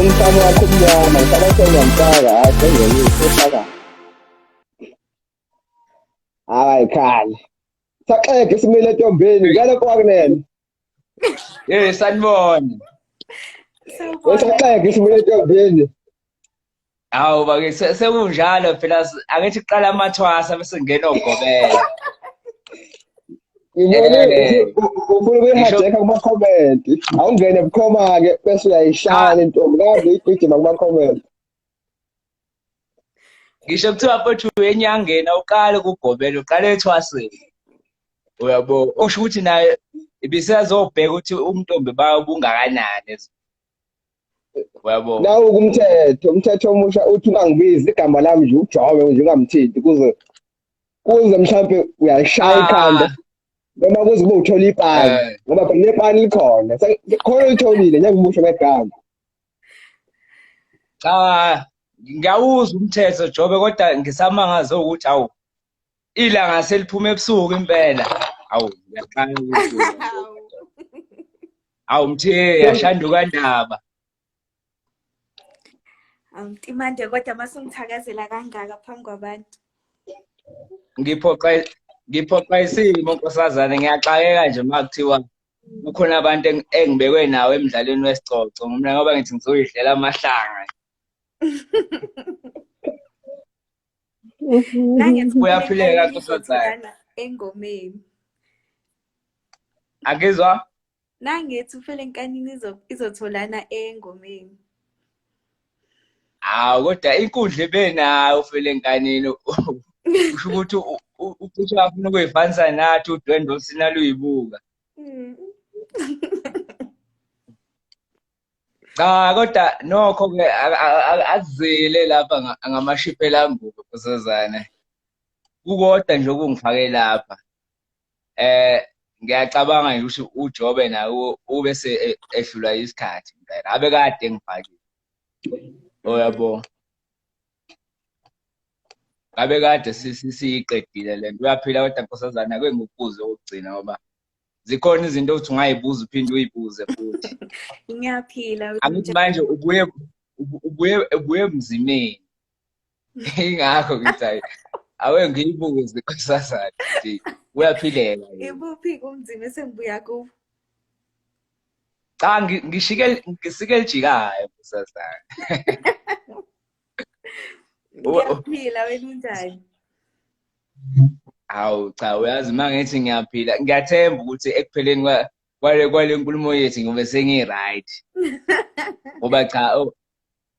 umfana wakho umnyama ngifaka sengiyamfaka hayi sengiyamisa ufaka hayi khale saxega isimile entombeni ngale kwakunene Eh sanibona. Sawubona. Usaxeke isibuye entombini. Hawu bake sekunjalo phela angithi kuqala amathwasa bese ngena ogobela. Ngibone eh. ufuna ukuyihajeka kuma comment. Awungene bukhoma ke bese uyayishaya intombi kaze igijima kuma comment. ngisho kuthiwa futhi uyenyangeni awuqale ukugobela uqale ethwaseni uyabo usho ukuthi naye ibisazobheka ukuthi umntombi bayo ubungakanani uyabo nawu kumthetho umthetho omusha uthi ungangibizi igama lami nje ujobe nje ungamthinti kuze kuze mhlampe uyalishaya ah. ikhanda noma kuze kube uthola ipani eh. ngoba phela nepani likhona khona litholile njengomusho ngegama cha ngiyawuzwa umthetho jobe kodwa ngisamangaze ukuthi awu ilanga seliphuma ebusuku impela awu ngiyaqala ukuthi awu mthe yashanduka ndaba awumtimande kodwa masungithakazela kangaka phambi kwabantu ngiphoqa ngiphoqa isimo nkosazane ngiyaxakeka nje uma kuthiwa kukhona abantu engibekwe nawo emdlalweni wesicoco mina ngoba ngithi ngizoyidlela amahlanga kuyaphileka kusazana engomeni akizwa nangethi ufele nkanini izotholana engomeni hawu kodwa inkundla ebenayo ufele nkanini usho ukuthi ukuthi afuna ukuyifanisa nathi udwendwe osina luyibuka mm. cha kodwa nokho ke akuzile lapha ngamashiphela ambuko kusezane kukodwa nje okungifake lapha eh ngiyacabanga nje ukuthi uJobe naye ube se e, ehlula isikhathi ngeke abe kade ngifakile oyabo oh, ngabe kade siyiqedile le nto uyaphila kodwa nkosazana ake ngikubuze okugcina ngoba zikhona izinto ukuthi ungayibuza uphinde uyibuze futhi ngiyaphila angithi manje ubuye ubuye ubuye emzimeni ingakho ngithi hayi awe ngiyibuze kusasa nje uyaphileka ibuphi kumzima esengibuya kubo cha ngishike ngisike lijikayo kusasa uyaphila wena unjani hawu cha uyazi uma ngithi ngiyaphila ngiyathemba ukuthi ekupheleni kwale kwale nkulumo yethu ngiyobe sengi-right ngoba cha oh,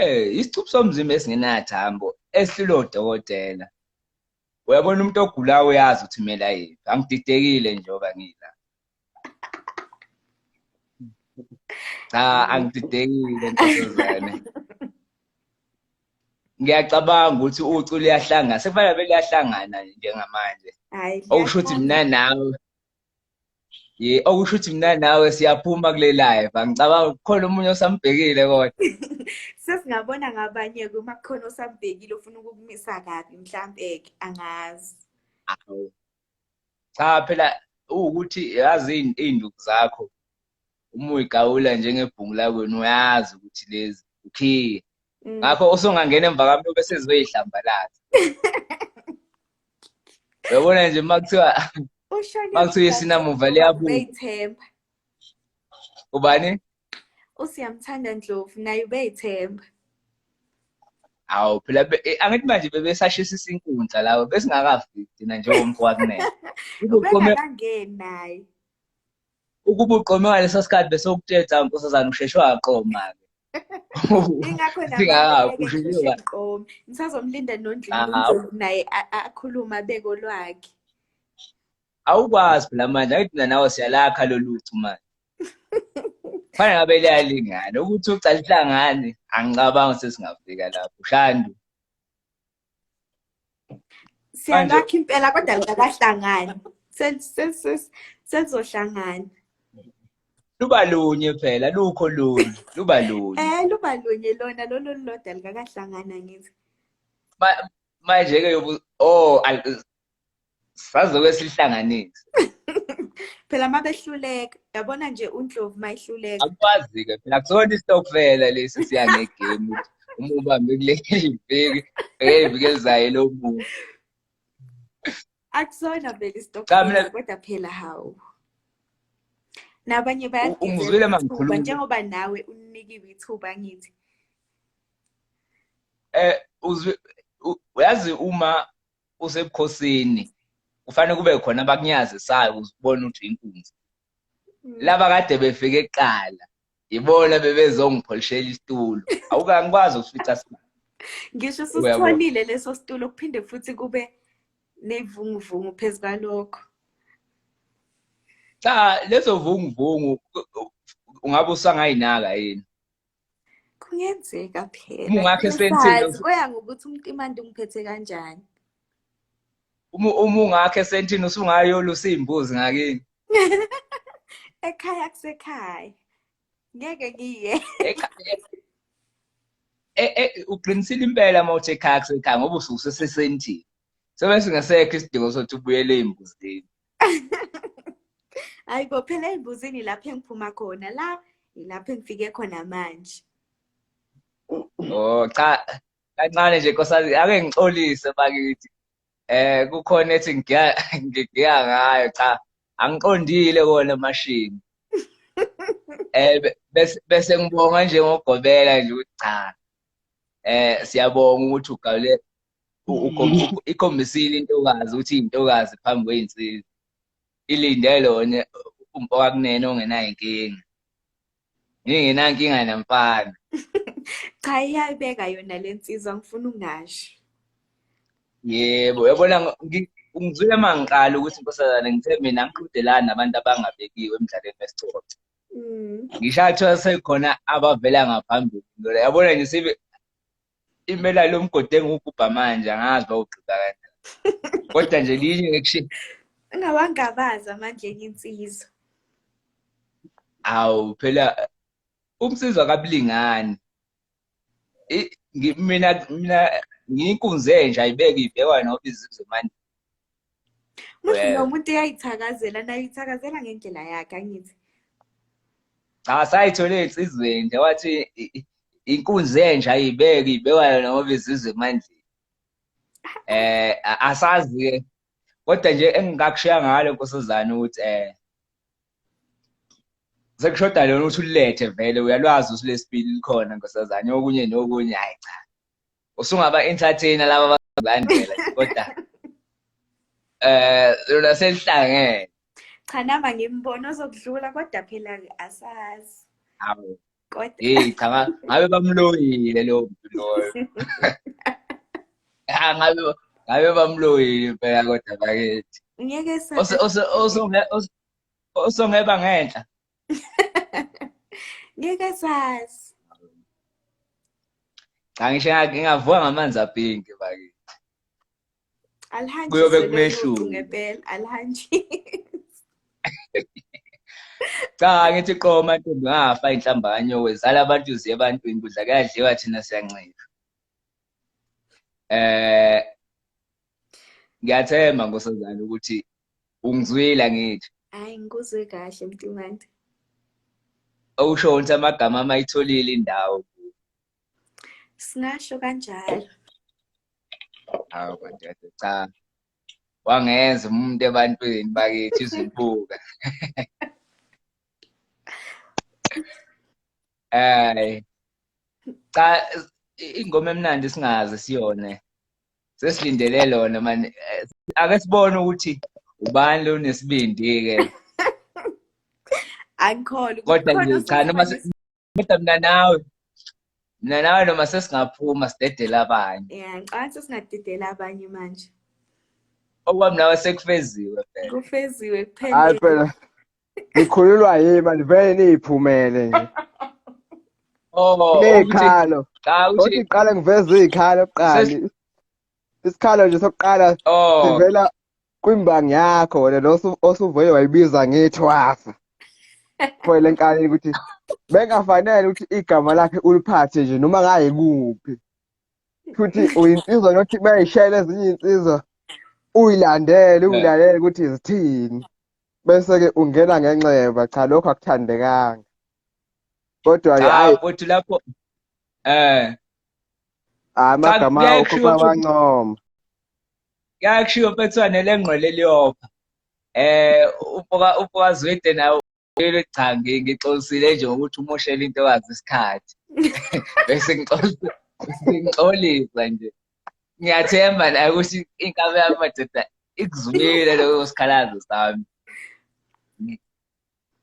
Eh, isicuphu somzimba esingenathambo esililo dokotela. Uyabona umuntu ogulayo uyazi ukuthi kumele ayiphi. Angididekile njengoba ngila. Cha, angididekile nkosazane. Ngiyacabanga ukuthi ucu liyahlangana. Sekufanele beliyahlangana njengamanje. Hayi. Okusho ukuthi mina nawe ye okusho ukuthi mina nawe siyaphuma kule live angicabanga kukhona omunye osambhekile kodwa sesingabona ngabanye ke uma kukhona osambhekile ufuna ukukumisa kabi mhlampe ke angazi cha phela ukuthi yazi izinduku zakho uma uyigawula njengebhungu lakwenu uyazi ukuthi lezi ukhiye Mm. ngakho usungangena emva kwami ube sezoyihlambalaza uyabona nje uma kuthiwa uma kuthiwa isinamuva liyabuyithemba ubani usiyamthanda ndlovu naye ubeyithemba awu phela eh, angithi manje bebesashisa inkundla lawo besingakafiki thina njengomfowabo kunene ubekangangeni naye ukuba uqome ngaleso sikhathi bese ukuthetha nkosazana usheshwe waqoma ke ingakho naqomi ngisazomlinda nondlini naye akhulume abeko lwakhe awukwazi phela manje ayithi mina nawe siyalakha loluthu manje fana ngabe liyalingana ukuthi ucala ihlangane angicabangi sesingafika lapho shandu siyalakha impela kodwa likahlangani selizohlangana luba lunye phela lukho lunye luba lunye eh luba lunye lona lolu lodwa likakahlangana ngithi manje-ke yobu oh sazoke sihlanganise phela uma behluleka yabona nje undlovu uma ihluleka akwazi-ke phela kusona istokfela lesi siya ngegame uma ubambe kuleli viki eyeviki elizayo elomuntu akusona vele istokfela kodwa phela hawu nabanye bayagizela njengoba nawe unikiwe ithuba ngithi eh yazi uma usebukhosini kufanele kube khona abakunyazisayo ukuze ubone ukuthi inkunzi mm. laba kade befike kuqala yibona bebezongipholishela isitulo awukangikwazi ukufica sibani ngisho usithwalile leso situlo kuphinde futhi kube ney'vunguvungu phezu kwalokho cha lezo vunguvungu ungabe usangayinaka yini kungenzeka phela kuya ngokuthi umuntu imandi umphethe kanjani uma ungakho esentini usungayolusa iy'mbuzi ngakini ekhaya kusekhaya ngeke ngiye e, e, uqinisile impela uma uthi ekhaya kusekhaya ngoba usuke usesesentini so bese ngesekho isidingo sokuthi ubuyele ey'mbuzini hayi bo phela ey'mbuzini lapho engiphuma khona la yilapho engifike khona manje oh cha kancane nje nkosazi ake ngixolise bakithi eh kukhona ethi ngiya ngiya ngayo cha angiqondile kona mashini eh bese bese ngibonga nje ngogobela nje ukuthi cha eh siyabonga ukuthi ugawule ikhombisile intokazi ukuthi intokazi phambi kweyinsizwa ilinde lona umfowakunene ongenayo inkinga ngingenankinga namfana cha iyabeka yona le nsizwa ngifuna ungasho yebo yabona ngizwile uma ngiqala ukuthi nkosazane ngithe mina ngiqhudelani nabantu abangabekiwe emdlalweni wesicoco mm. ngishathiwa sekhona abavela ngaphambili yabona nje sibe imela lo mgodi engiwugubha manje angazi uba ugqiba kanjani kodwa nje linye ngikushiye ungawangabazi amandleni insizwa awu phela umsizwa kabulingani mina mina ngiyinkunze nje ayibeke ibhekwa noba izizwe manje Musho lo muntu uyayithakazela naye uyithakazela ngendlela yakhe angithi. Cha sayithole insizweni nje wathi inkunzi enje ayibeke ibekwa yona ngoba izizwe emandleni. Eh asazi ke kodwa nje engingakushiya ngalo nkosazana ukuthi eh sekushoda lona ukuthi ulethe vele uyalwazi usilesibili likhona nkosazana okunye nokunye hayi cha usungaba entertainer laba bazolandela kodwa eh lona selihlangene cha nama ngimbona ozokudlula kodwa phela asazi awu kodwa hey cha ngabe bamloyile lo loyo ha ngabe ngabe bamloyile phela kodwa bakithi ngeke sa osongeba ngenhla ngeke sazi cha ngisho ngingavuka ngamanzi apinki bakithi alihanji kuyobe kumehluko ngempela alihanji cha ngithi qoma ntombi ngafa inhlambanyo wezala abantu ziye ebantwini kudla kuyadliwa thina siyancika eh ngiyathemba nkosazana ukuthi ungizwile ngithi hayi ngikuzwe kahle mntumande awusho ukuthi amagama ama itholile indawo singasho kanjalo hawu kanti cha wangenza umuntu ebantwini bakithi izibuka Ay. Cha ingoma emnandi singaze siyone. sesilindele lona mani eh, ake sibone ukuthi ubani lo nesibindi-ke angikholwa kodwa nje cha noma kodwa mina nawe mina nawe noma sesingaphuma sidedele abanye ya ngicabanga sesingadedela abanye manje okwami nawe sekufeziwe phela kufeziwe kuphela Nikhululwa yini manje vele niyiphumele nje. Oh, nekhalo. Cha uthi iqala ngiveza izikhalo kuqali. Isikhalo nje sokuqala oh. sivela kwimbangi yakho wena lo osuvuye wayibiza ngethwasa. Kwele nkani ukuthi bengafanele ukuthi igama lakhe uliphathe nje noma ngaye kuphi. Futhi uyinsizwa nothi bayishayela ezinye insizwa uyilandele uyilalele ukuthi zithini. bese-ke ungena ngenxeba cha lokho akuthandekanga kodwa-ke hayi futhi lapho eh amagama akho bawancoma yakushiwo mfethwane lengqwele liyopha eh ufoka ufoka zwede nawo cha ngixolisile nje ngokuthi umoshela intokazi isikhathi bese ngixolisa ngixolisa nje ngiyathemba la ukuthi inkabe yami madoda ikuzwile leyo sikhalazo sami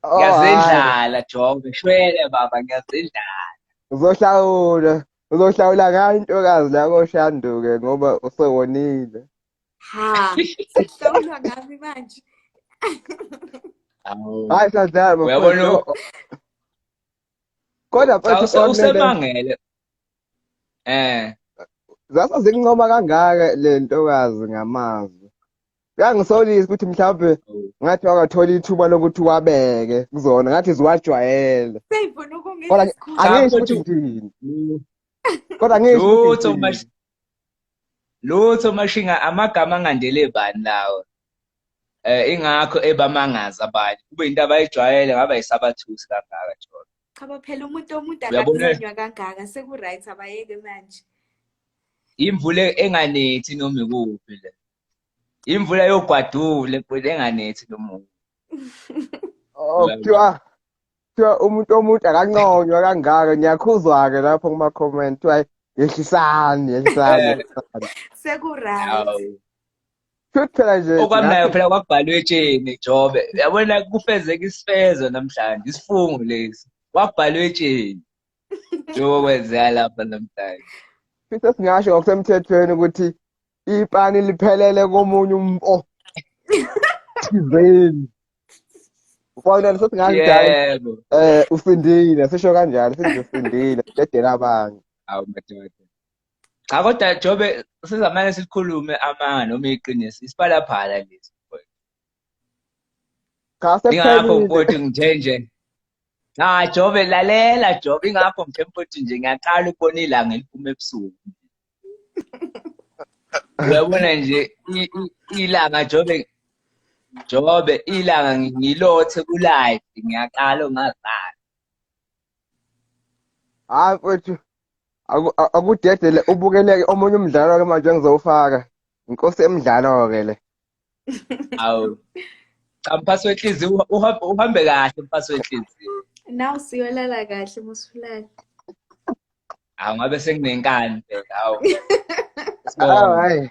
oh, ngiyazendlala jonge shwele baba ngiyazendlala uzohlawula uzohlawula ngayo intokazi la koshanduke ngoba usewonile ha sihlawula ngami manje hayi sadlala uyabona kodwa futhi usemangele eh zasa zikuncoma kangaka le ntokazi ngamazwi kuyangisolisa ukuthi mhlawumbe ngathi wakathola ithuba lokuthi wabeke kuzona ngathi ziwajwayele kodwa angisho ukuthi ngithini kodwa angisho lutho lutho mashinga amagama angandele bani lawo eh ingakho ebamangaza abanye kube into abayijwayele ngaba isabathusi kangaka jolo cha baphela umuntu omuntu akakhulunywa kangaka seku right abayeke manje imvule enganethi noma ikuphi le imvula yogwadule kodwa enganethi nomuntu oh kuthiwa kuthiwa umuntu omuntu akanconywa kangaka ngiyakhuzwa-ke lapho kuma-comment kuthiwa yehlisani yehlisani seku-right Futhi phela nje okwamnayo phela kwabhalwe etsheni Jobe. Yabona kufezeka isifezo namhlanje isifungo lesi. Kwabhalwe etsheni. Jobe kwenzeka lapha namhlanje. Futhi singasho ngokusemthethweni ukuthi ipani liphelele komunye umfo. Thizeni. Ubona nje sothi ngathi yebo. Eh usindile sisho kanjalo sithi usindile dedela abanye. Awu madoda. cha kodwa jobe sizamane sikhulume amanga noma iqiniso isiphalaphala lesi cha sekuphelile ukuthi ngithe nje cha jobe lalela jobe ingakho ngithe mfowethu nje ngiyaqala ukubona ilanga eliphuma ebusuku uyabona nje ilanga jobe jobe ilanga ngilothe kulive ngiyaqala ongazali hayi mfowethu akudedele ubukeleke omunye umdlalo ke manje engizowufaka inkosi emdlalo ke le awu cha mphasi wenhliziyo uhambe kahle mphasi wenhliziyo nawu siyolala kahle musulala awu ngabe senginenkani phela awu hayi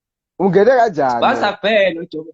ungene kanjani basa kuphela ujobe